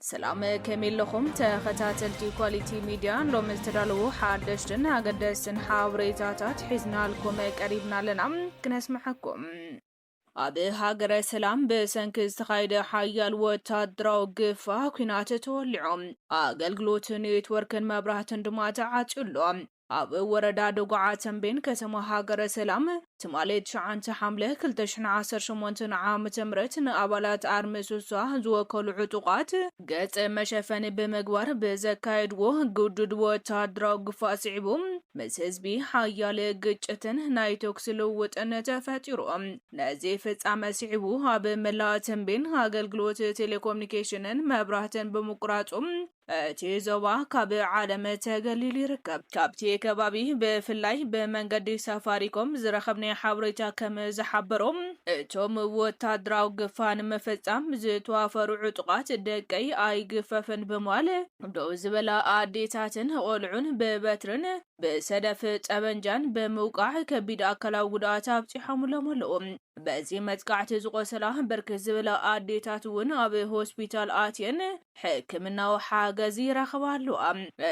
ሰላም ከመይ ኣለኹም ተኸታተልቲ ኳሊቲ ሚድያ፣ ሎሚ ዝተዳለዉ ሓደሽትን ኣገደስትን ሓበሬታታት ሒዝናልኩም ቀሪብና ኣለና ክነስምዓኩም። ኣብ ሃገረ ሰላም ብሰንኪ ዝተኻየደ ሓያል ወታደራዊ ግፋ ኲናት ተወሊዑ፣ ኣገልግሎት ኔትወርክን መብራህትን ድማ ተዓጽዩ ኣሎ። ኣብ ወረዳ ደጉዓ ተምቤን ከተማ ሃገረ ሰላም ትማሊ ትሽዓንተ ሓምለ ክልተ ሽሕን ዓሰርተ ሸሞንተን ዓመተ ምህረት ንኣባላት ኣርሚ ሱሳ ዝወከሉ ዕጡቓት ገጽ መሸፈኒ ብምግባር ብዘካየድዎ ግዱድ ወተሃደራዊ ግፋ ስዒቡ ምስ ህዝቢ ሓያለ ግጭትን ናይ ተኩሲ ልውውጥን ተፈጢሩ። ነዚ ፍጻመ ስዒቡ ኣብ መላእ ተምቤን ኣገልግሎት ቴሌኮምኒኬሽንን መብራህትን ብምቁራጹ እቲ ዞባ ካብ ዓለም ተገሊሉ ይርከብ። ካብቲ ከባቢ ብፍላይ ብመንገዲ ሳፋሪኮም ዝረኸብናዮ ሓበሬታ ከም ዝሓበሮ፣ እቶም ወታደራዊ ግፋ ንምፍጻም ዝተዋፈሩ ዕጡቓት ደቀይ ኣይግፈፍን ብምባል፣ ደው ዝበላ ኣዴታትን ቆልዑን ብበትርን ብሰደፍ ጠበንጃን ብምውቃዕ ከቢድ ኣካላዊ ጉድኣት ኣብጺሖምሎም ኣለዉ። በዚ መጥቃዕቲ ዝቖሰላ ብርክት ዝበላ ኣዴታት እውን ኣብ ሆስፒታል ኣትየን ሕክምናዊ ሓገዝ ይረኽባ ኣለዋ።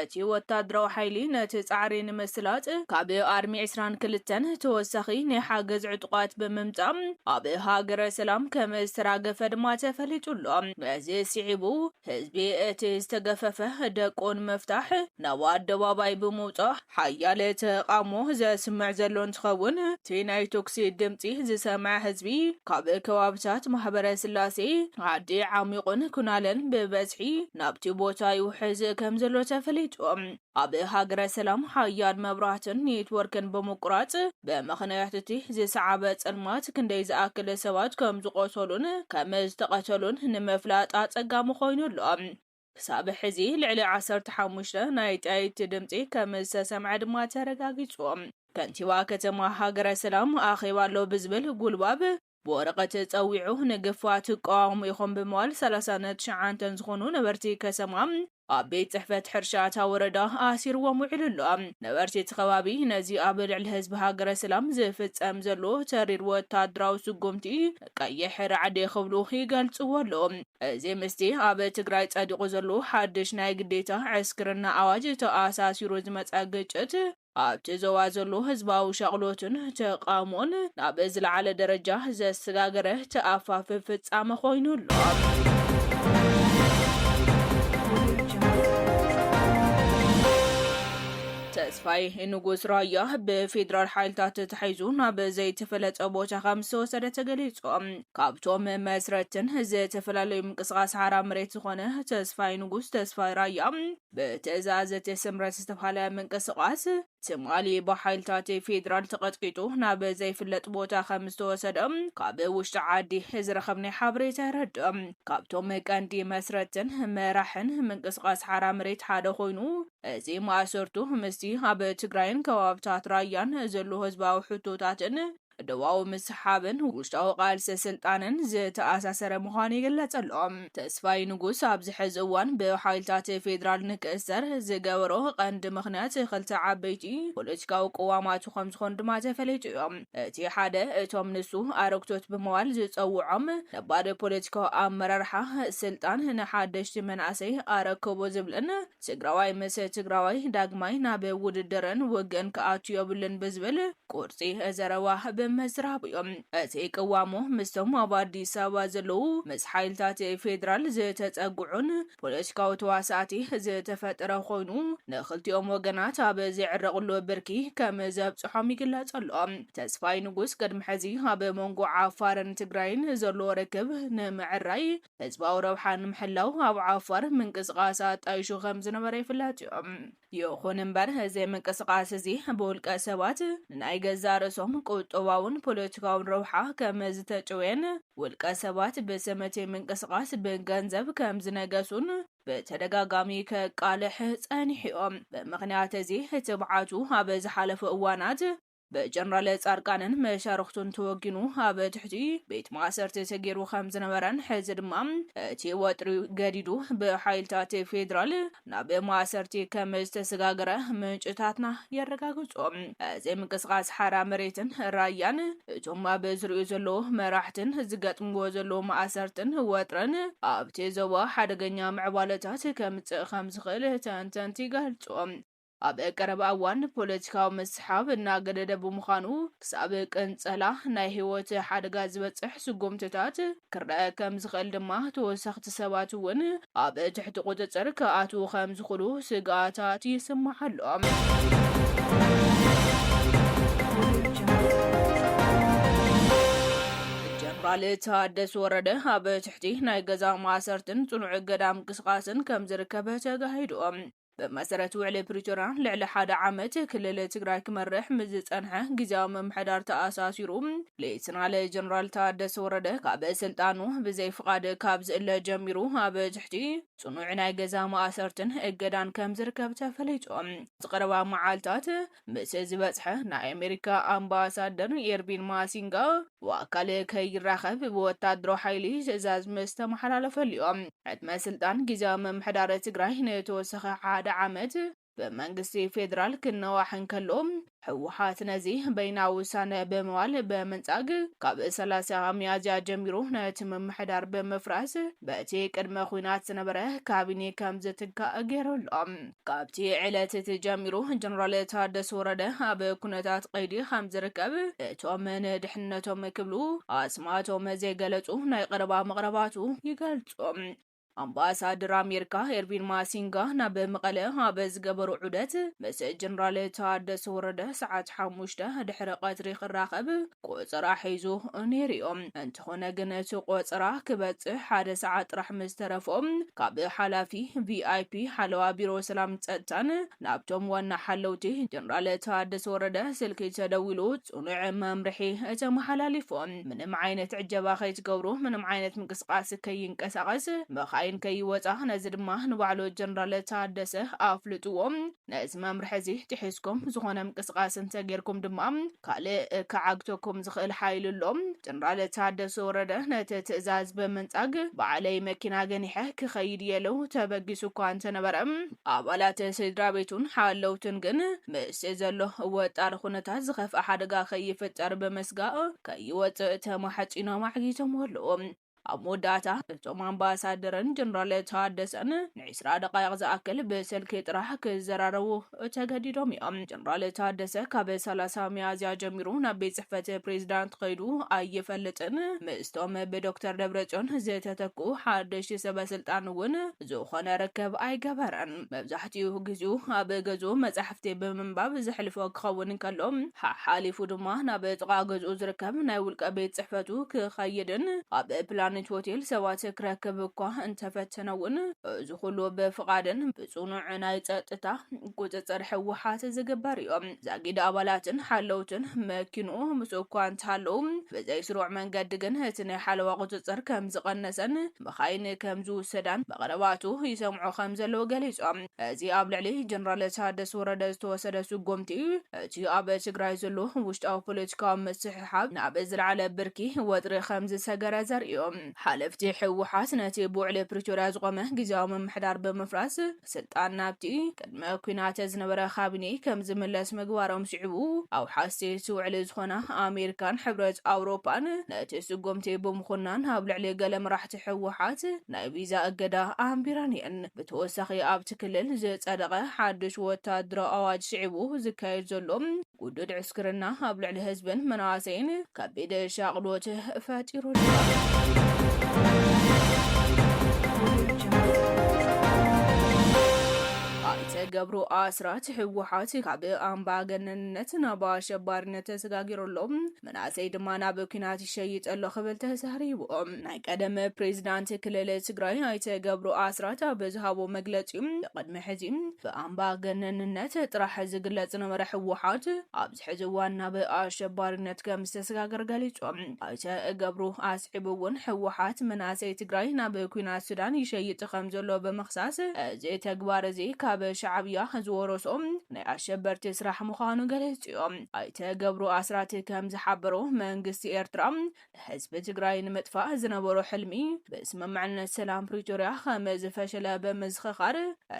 እቲ ወታደራዊ ሓይሊ ነቲ ጻዕሪ ንምስላጥ ካብ ኣርሚ ዕስራን ክልተን ተወሳኺ ናይ ሓገዝ ዕጡቓት ብምምጻእ ኣብ ሃገረ ሰላም ከም ዝተራገፈ ድማ ተፈሊጡ ኣሎ። ነዚ ስዒቡ ህዝቢ እቲ ዝተገፈፈ ደቁ ንምፍታሕ ናብ ኣደባባይ ብምውጻእ፣ ሓያል ተቓውሞ ዘስምዕ ዘሎ እንትኸውን፣ እቲ ናይ ቶክሲ ድምጺ ዝሰምዐ ህዝቢ ካብ ከባብታት ማህበረስላሴ፣ ዓዲ ዓሚቑን ኩናለን ብበዝሒ ናብቲ ቦታ ይውሕዝ ከምዘሎ ተፈሊጡ። ኣብ ሃገረ ሰላም ሓያል መብራህትን ኔትወርክን ብምቁራጽ ብምኽንያት እቲ ዝሰዓበ ጸልማት ክንደይ ዝኣክል ሰባት ከምዝቖሰሉን ከምዝተቐተሉን ንምፍላጥ ኣጸጋሚ ኮይኑ ኣሎ። ክሳብ ሕዚ ልዕሊ ዓሰርተ ሓሙሽተ ናይ ጠያይቲ ድምጺ ከምዝተሰምዐ ድማ ተረጋጊጹ። ከንቲባ ከተማ ሃገረ ሰላም ኣኼባ ኣሎ ብዝብል ጉልባብ ብወረቐት ጸዊዑ ንግፋ ትቃወሙ ኢኹም ብምባል ሰላሳ ንትሽዓንተ ዝኾኑ ነበርቲ ከሰማ ኣብ ቤት ጽሕፈት ሕርሻ እታ ወረዳ ኣሲርዎም ውዒሉ ኣሎ። ነበርቲ እቲ ከባቢ ነዚ ኣብ ልዕሊ ህዝቢ ሃገረ ሰላም ዝፍጸም ዘሎ ተሪር ወታደራዊ ስጉምቲ ቀይሕ ራዕዲ ክብሉ ይገልፅዎ ኣለዉ። እዚ ምስቲ ኣብ ትግራይ ፀዲቑ ዘሎ ሓድሽ ናይ ግዴታ ዕስክርና ኣዋጅ ተኣሳሲሩ ዝመፀ ግጭት ኣብቲ ዞባ ዘሎ ህዝባዊ ሻቕሎትን ተቓውሞን ናብ ዝለዓለ ደረጃ ዘሰጋገረ ተኣፋፊ ፍፃመ ኮይኑ ኣሎ። ተስፋዬ ንጉስ ራያ ብፌደራል ሓይልታት ተታሒዙ ናብ ዘይተፈለጠ ቦታ ከም ዝተወሰደ ተገሊፁ። ካብቶም መስረትቲን ዝተፈላለዩ ምንቅስቓስ ሓራ መሬት ዝኾነ ተስፋዬ ንጉስ፣ ተስፋይ ራያ፣ ብትእዛዝ እቲ ስምረት ዝተብሃለ ምንቅስቓስ ትማሊ ብሓይልታት ፌደራል ተቐጥቂጡ ናብ ዘይፍለጥ ቦታ ከም ዝተወሰደ ካብ ውሽጢ ዓዲ ዝረኸብናዮ ሓበሬታ የረድእ። ካብቶም ቀንዲ መስረትቲን መራሕን ምንቅስቓስ ሓራ መሬት ሓደ ኮይኑ እዚ ማእሰርቱ ምስቲ ኣብ ትግራይን ከባብታት ራያን ዘሎ ህዝባዊ ሕቶታትን ዶባዊ ምስሕሓብን ውሽጣዊ ቃልሲ ስልጣንን ዝተኣሳሰረ ምዃኑ ይግለጽ ኣሎ። ተስፋይ ንጉስ ኣብዚ ሕዚ እዋን ብሓይልታት ፌደራል ንክእሰር ዝገበሮ ቀንዲ ምኽንያት ክልተ ዓበይቲ ፖለቲካዊ ቅዋማቱ ከምዝኾኑ ድማ ተፈሊጡዮ። እቲ ሓደ እቶም ንሱ ኣረግቶት ብምባል ዝጸውዖም ነባር ፖለቲካዊ ኣመራርሓ ስልጣን ንሓደሽቲ መናእሰይ ኣረክቡ ዝብልን ትግራዋይ ምስ ትግራዋይ ዳግማይ ናብ ውድድርን ውግእን ክኣቱ ዮብሉን ብዝብል ቁርፂ ዘረባ ብምዝራቡ ዩ እቲ ቅዋሙ ምስቶም ኣብ ኣዲስ ኣበባ ዘለዉ ምስ ሓይልታት ፌዴራል ዝተፀግዑን ፖለቲካዊ ተዋሳእቲ ዝተፈጠረ ኮይኑ ንኽልቲኦም ወገናት ኣብ ዘይዕረቕሉ ብርኪ ከም ዘብፅሖም ይግለፅ ኣሎ። ተስፋይ ንጉስ ቅድሚ ሕዚ ኣብ መንጎ ዓፋርን ትግራይን ዘሎ ርክብ ንምዕራይ ህዝባዊ ረብሓ ንምሕላው ኣብ ዓፋር ምንቅስቓስ ኣጣይሹ ከም ዝነበረ ይፍለጥ እዩ። ይኹን እምበር እዚ ምንቅስቓስ እዚ ብውልቀ ሰባት ንናይ ገዛእ ርእሶም ቁጠባውን ፖለቲካውን ረብሓ ከም ዝተጨውየን ውልቀ ሰባት ብስም እቲ ምንቅስቓስ ብገንዘብ ከም ዝነገሱን ብተደጋጋሚ ከቃልሕ ጸኒሑ እዩ። ብምኽንያት እዚ ትብዓቱ ኣብ ዝሓለፉ እዋናት ብጀነራል ፃድቃንን መሻርኽቱን ተወጊኑ ኣብ ትሕቲ ቤት ማእሰርቲ ተገይሩ ከምዝነበረን ሕዚ ድማ እቲ ወጥሪ ገዲዱ ብሓይልታት ፌዴራል ናብ ማእሰርቲ ከምዝተሰጋገረ ምንጭታትና የረጋግፁ። እዚ ምንቅስቓስ ሓራ መሬትን ራያን እቶም ኣብ ዙርይኡ ዘለዉ መራሕትን ዝገጥምዎ ዘለዉ ማእሰርትን ወጥርን ኣብቲ ዞባ ሓደገኛ ምዕባለታት ከምፅእ ከምዝኽእል ተንተንቲ ይገልፁ። ኣብ ቀረባ እዋን ፖለቲካዊ ምስሓብ እናገደደ ብምዃኑ ክሳብ ቅንጸላ ናይ ህይወት ሓደጋ ዝበጽሕ ስጉምትታት ክረኣ ከም ዝኽእል ድማ ተወሰኽቲ ሰባት እውን ኣብ ትሕቲ ቁጽጽር ክኣትዉ ከም ዝኽሉ ስግኣታት ይስማዕ ኣሎ። ጀነራል ታደሰ ወረደ ኣብ ትሕቲ ናይ ገዛ ማእሰርትን ጽኑዕ እገዳ ምንቅስቓስን ከም ዝርከብ ተጋሂዱ። ብመሰረት ውዕሊ ፕሪቶርያ ልዕሊ ሓደ ዓመት ክልል ትግራይ ክመርሕ ምስ ዝፀንሐ ግዝያዊ ምምሕዳር ተኣሳሲሩ ሌተናል ጀነራል ታደሰ ወረደ ካብ ስልጣኑ ብዘይ ፍቓድ ካብ ዝእለ ጀሚሩ ኣብ ትሕቲ ፅኑዕ ናይ ገዛ ማእሰርትን እገዳን ከምዝርከብ ተፈሊጡ። ኣብዚ ቀረባ መዓልታት ምስ ዝበጽሐ ናይ ኣሜሪካ ኣምባሳደር ኤርቪን ማሲንጋ ብኣካል ከይራኸብ ብወታደራዊ ሓይሊ ትእዛዝ ምስ ተመሓላለፈል'ዩ ዕድመ ስልጣን ግዝያዊ ምምሕዳር ትግራይ ንተወሳኺ ሓደ ዓመት ብመንግስቲ ፌደራል ክነዋሕ እንከሎ፣ ህወሓት ነዚ በይናዊ ውሳነ ብምባል ብምንጻግ ካብ ሰላሳ ሚያዝያ ጀሚሩ ነቲ ምምሕዳር ብምፍራስ በቲ ቅድመ ኹናት ዝነበረ ካቢኔ ከምዝትካእ ገይሩ ኣሎ። ካብቲ ዕለት እቲ ጀሚሩ ጀነራል ታደሰ ወረደ ኣብ ኩነታት ቀይዲ ከም ዝርከብ እቶም ንድሕንነቶም ክብሉ ኣስማቶም ዘይገለፁ ናይ ቐረባ መቕረባቱ ይገልፁ። ኣምባሳደር ኣሜሪካ ኤርቪን ማሲንጋ ናብ መቐለ ኣብ ዝገበሮ ዑደት ምስ ጀነራል ታደሰ ወረደ ሰዓት ሓሙሽተ ድሕሪ ቐትሪ ክራኸብ ቆጸራ ሒዙ ነይሩዮ። እንተኾነ ግን እቲ ቆጸራ ክበጽሕ ሓደ ሰዓት ጥራሕ ምስ ተረፎ ካብ ሓላፊ VIP ሓለዋ ቢሮ ሰላም ጸጥታን ናብቶም ዋና ሓለውቲ ጀነራል ታደሰ ወረደ ስልኪ ተደዊሉ ጽኑዕ መምርሒ ተመሓላሊፉ ምንም ዓይነት ዕጀባ ከይትገብሩ ምንም ዓይነት ምንቅስቃስ ከይንቀሳቀስ መኻይን ከይወጻ ነዚ ድማ ንባዕሉ ጀነራል ታደሰ ኣፍልጥዎ ነዚ መምርሒ እዚ ጥሒስኩም ዝኾነ ምንቅስቓስ እንተጌርኩም ድማ ካልእ ክዓግተኩም ዝኽእል ሓይሊ ኣሎ። ጀነራል ታደሰ ወረደ ነቲ ትእዛዝ ብምንጻግ ባዕለይ መኪና ገኒሐ ክኸይድ እየ ኢሉ ተበጊሱ እኳ እንተነበረ፣ ኣባላት ስድራቤቱን ሓለውቱን ግን ምስቲ ዘሎ ወጥጣሪ ኩነታት ዝኸፍኣ ሓደጋ ከይፍጠር ብምስጋእ ከይወጽእ ተማሕጺኖም ኣዕጊቶምዎ ኣለዉ። ኣብ መወዳእታ እቶም ኣምባሳደርን ጀነራል ታደሰን ንዒስራ ደቓይቕ ዝኣክል ብስልኪ ጥራሕ ክዘራረቡ ተገዲዶም እዮም። ጀነራል ታደሰ ካብ ሰላሳ ሚያዝያ ጀሚሩ ናብ ቤት ጽሕፈት ፕሬዝዳንት ከይዱ ኣይፈልጥን፣ ምስቶም ብዶክተር ደብረጽዮን ዝተተክኡ ሓደሽቲ ሰበ ስልጣን እውን ዝኾነ ርክብ ኣይገበረን። መብዛሕትኡ ግዜኡ ኣብ ገዝኡ መጻሕፍቲ ብምንባብ ዘሕልፎ ክኸውን እንከሎ፣ ሓሓሊፉ ድማ ናብ ጥቓ ገዝኡ ዝርከብ ናይ ውልቀ ቤት ጽሕፈቱ ክኸይድን ኣብ ፕላኔት ሆቴል ሰባት ክረክብ እኳ እንተፈተነ'ውን፣ እዚ ኩሉ ብፍቓድን ብጽኑዕ ናይ ጸጥታ ቁጽጽር ህወሓት ዝግበር'ዩ። ዛጊድ ኣባላትን ሓለውትን መኪንኡ ምስኡ እኳ እንተሃለዉ፣ ብዘይስሩዕ መንገዲ ግን እቲ ናይ ሓለዋ ቁጽጽር ከምዝቐነሰን መኻይን ከም ዝውሰዳን ብቐረባቱ ይሰምዑ ከም ዘለዉ ገሊጾም። እዚ ኣብ ልዕሊ ጀነራል ታደሰ ወረደ ዝተወሰደ ስጉምቲ፣ እቲ ኣብ ትግራይ ዘሎ ውሽጣዊ ፖለቲካዊ ምስሕሓብ ናብ ዝለዓለ ብርኪ ወጥሪ ከም ዝሰገረ ዘርኢ'ዩ። ሓለፍቲ ህወሓት ነቲ ብውዕሊ ፕሪቶርያ ዝቖመ ግዝያዊ ምምሕዳር ብምፍራስ፣ ስልጣን ናብቲ ቅድመ ኲናት ዝነበረ ካቢኔ ከም ዝምለስ ምግባሮም ስዒቡ፣ ኣውሓስቲ እቲ ውዕሊ ዝኾና ኣሜሪካን ሕብረት ኣውሮፓን ነቲ ስጉምቲ ብምኹናን ኣብ ልዕሊ ገለ መራሕቲ ህወሓት ናይ ቪዛ እገዳ ኣንቢረን እየን። ብተወሳኺ ኣብቲ ክልል ዝጸደቐ ሓድሽ ወተሃደራዊ ኣዋጅ ስዒቡ ዝካየድ ዘሎ፣ ግዱድ ዕስክርና ኣብ ልዕሊ ህዝብን መናእሰይን ከቢድ ሻቕሎት ፈጢሩ ኣሎ። ኣይተ ገብሩ ኣስራት ህወሓት ካብ ኣምባገነንነት ናብ ኣሸባሪነት ተሰጋጊሩ ኣሎ። መናእሰይ ድማ ናብ ኲናት ይሸይጥ ኣሎ ክብል ተዛሪቡ። ናይ ቀደም ፕሬዚዳንት ክልል ትግራይ ኣይተ ገብሩ ኣስራት ኣብ ዝሃቦ መግለፂ ቅድሚ ሕዚ ብኣምባገነንነት ጥራሕ ዝግለፅ ዝነበረ ህወሓት ኣብዚ ሕዚ እዋን ናብ ኣሸባሪነት ከም ዝተሰጋገረ ገሊፆም። ኣይተ ገብሩ ኣስዒቡ እውን ህወሓት መናእሰይ ትግራይ ናብ ኲናት ሱዳን ይሸይጥ ከም ዘሎ ብምኽሳስ እዚ ተግባር እዚ ካብ ሻዕብያ ዝወረሶ ናይ ኣሸበርቲ ስራሕ ምዃኑ ገሊፁ እዩ። ኣይተ ገብሩ ኣስራት ከም ዝሓበሮ፣ መንግስቲ ኤርትራ ንህዝቢ ትግራይ ንምጥፋእ ዝነበሮ ሕልሚ ብስምምዕነት ሰላም ፕሪቶርያ ከም ዝፈሸለ ብምዝኽኻር፣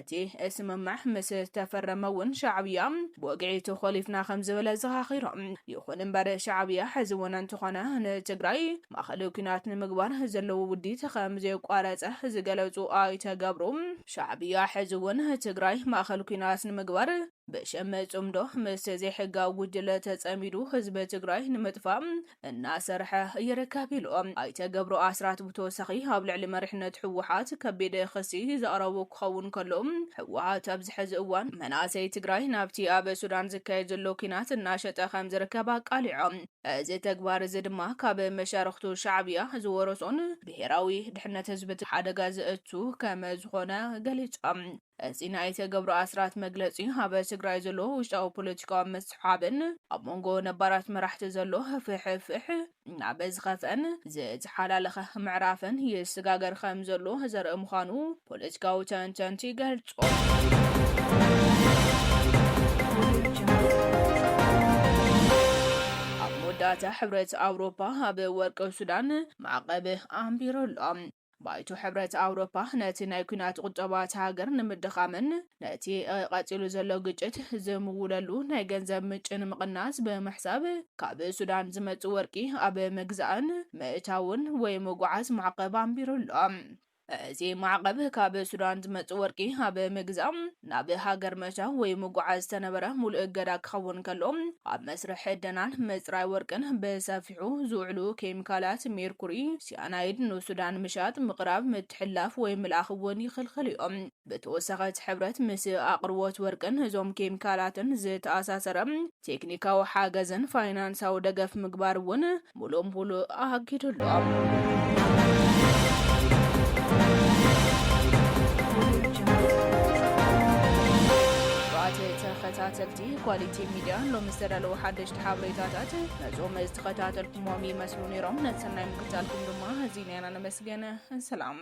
እቲ ስምምዕ ምስ ተፈረመ እውን ሻዕብያ ብወግዒ ተኾሊፍና ከም ዝበለ ዘኻኺሮም። ይኹን እምበር ሻዕብያ ሕዚ እውን እንተኾነ ንትግራይ ማእኸል ኲናት ንምግባር ዘለዎ ውዲት ከም ዘየቋረፀ ዝገለፁ ኣይተ ገብሩ፣ ሻዕብያ ሕዚ እውን ትግራይ ማእኸል ኲናት ንምግባር ብሽም ፅምዶ ምስ ዘይሕጋዊ ጉጅለ ተፀሚዱ ህዝቢ ትግራይ ንምጥፋእ እናሰርሐ ይርከብ ኢሉ። ኣይተ ገብሩ ኣስራት ብተወሳኺ ኣብ ልዕሊ መሪሕነት ህወሓት ከቢድ ኽሲ ዘቕረቡ ክኸውን ከሎ ህወሓት ኣብዚ ሕዚ እዋን መናእሰይ ትግራይ ናብቲ ኣብ ሱዳን ዝካየድ ዘሎ ኲናት እናሸጠ ከምዝርከብ ኣቃሊዖም። እዚ ተግባር እዚ ድማ ካብ መሻርኽቱ ሻዕብያ ዝወረሶን ብሄራዊ ድሕነት ህዝቢ ትግራይ ሓደጋ ዘእቱ ከምዝኾነ ገሊፆም። እዚ ናይ ኣይተ ገብሩ ኣስራት መግለጺ ኣብ ትግራይ ዘሎ ውሽጣዊ ፖለቲካዊ ምስሕሓብን ኣብ መንጎ ነባራት መራሕቲ ዘሎ ህፍሕፍሕ ናብ ዝኸፍአን ዝተሓላለኸ ምዕራፍን ይስጋገር ከም ዘሎ ዘርኢ ምዃኑ ፖለቲካዊ ተንተንቲ ይገልጹ። ዳታ ሕብረት ኣውሮፓ ኣብ ወርቂ ሱዳን ማዕቐብ ኣንቢሩ ኣሎ። ባይቶ ሕብረት ኣውሮፓ ነቲ ናይ ኲናት ቁጠባ እታ ሃገር ንምድኻምን ነቲ ቐጺሉ ዘሎ ግጭት ዝምውለሉ ናይ ገንዘብ ምጭ ንምቕናስ ብምሕሳብ ካብ ሱዳን ዝመጽእ ወርቂ ኣብ ምግዛእን ምእታውን ወይ ምጉዓዝ ማዕቐብ ኣንቢሩ ኣሎ። እዚ ማዕቐብ ካብ ሱዳን ዝመጽእ ወርቂ ኣብ ምግዛእ፣ ናብ ሃገር ምእታው ወይ ምጉዓዝ ዝተነበረ ሙሉእ እገዳ ክኸውን ከሎ ኣብ መስርሕ ዕደናን ምጽራይ ወርቅን ብሰፊሑ ከብድሑ ዝውዕሉ ኬሚካላት ሜርኩሪ፣ ሲያናይድ፣ ንሱዳን ምሻጥ፣ ምቕራብ፣ ምትሕልላፍ ወይ ምልኣኽ እውን ይኽልክሉ እዮም። ብተወሳኺ እቲ ሕብረት ምስ ኣቕርቦት ወርቅን እዞም ኬሚካላትን ዝተኣሳሰረ ቴክኒካዊ ሓገዝን ፋይናንሳዊ ደገፍ ምግባር እውን ሙሉእ ሙሉእ ኣጊዱ ኣሎ። ክቡራት ተኸታተልቲ ኳሊቲ ሚድያ ሎሚ ዝተዳለዉ ሓደሽቲ ሓበሬታታት ነዞም ዝተኸታተልኩምዎም ይመስሉ ነይሮም። ነቲ ሰናይ ምክትታልኩም ድማ ኣዚና ኢና ነመስግን። ሰላም።